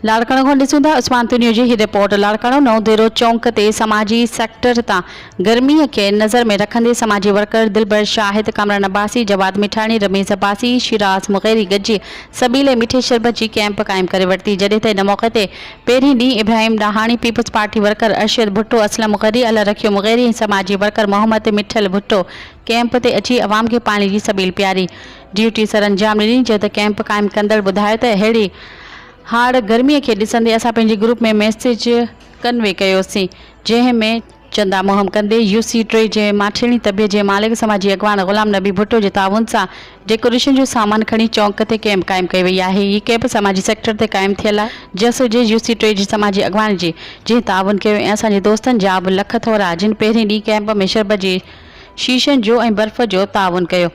لاڙڪاڻو کان ڏسون ٿا عثمان تنيو جي هي رپورٽ لاڙڪاڻو نئون ديرو چونڪ تي سماجي سيڪٽر تان گرمي کي نظر ۾ رکندي سماجي ورڪر دلبر شاهد ڪامران عباسي جواد مٺاڻي رميز عباسي شيراز مغيري گڏجي سبيلي مٺي شربت جي ڪئمپ قائم ڪري ورتي جڏهن ته ان موقعي تي پهرين ڏينهن Ibrahim Dahani Peoples Party worker Arshad Bhutto Aslam Maghri Allah Rakhio Mugheri ۽ سماجي ورڪر محمد مٺل ڀٽو ڪئمپ تي اچي عوام کي پاڻي جي سبيل پياري ڊيوٽي سرانجام ڏني، جڏهن ته ڪئمپ قائم ڪندڙ ٻڌايو ته اهڙي هاڙ گرمي کي ڏسندي اسان پنهنجي گروپ ۾ ميسيج ڪنوي ڪيوسين، جنهن ۾ چندا مهم ڪندي يو سي ٽي جي ماٺيڻي طبيعت جي مالڪ سماجي اڳواڻ غلام نبي ڀٽو جي تعاون سان ڊيڪوريشن جو سامان کڻي چونڪ تي ڪئمپ قائم ڪئي وئي آهي، هي ڪئمپ سماجي سيڪٽر تي قائم ٿيل آهي، جس جي يو سي ٽي جي سماجي اڳواڻ جي جنهن تعاون ڪيو ۽ اسان جي دوستن جا به لک ٿورا جن پهرين ڏينهن ڪئمپ ۾ شربت جي شيشن جو ۽ برف جو تعاون ڪيو.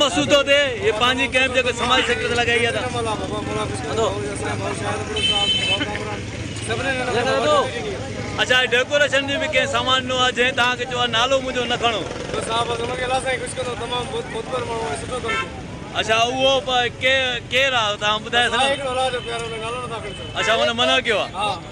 مسودو تي هي پنهنجي ڪئمپ جيڪو سماجي سيڪٽر تي لڳائي آهي اچا ڊيڪوريشن جي به ڪئين سامان ڏنو آهي جنهن تهان کي چيو آهي نالو منهنجو نه کڻو اچا اهو ڪير آهي تهان ٻڌائي سگهندو اچا هن منع ڪيو آهي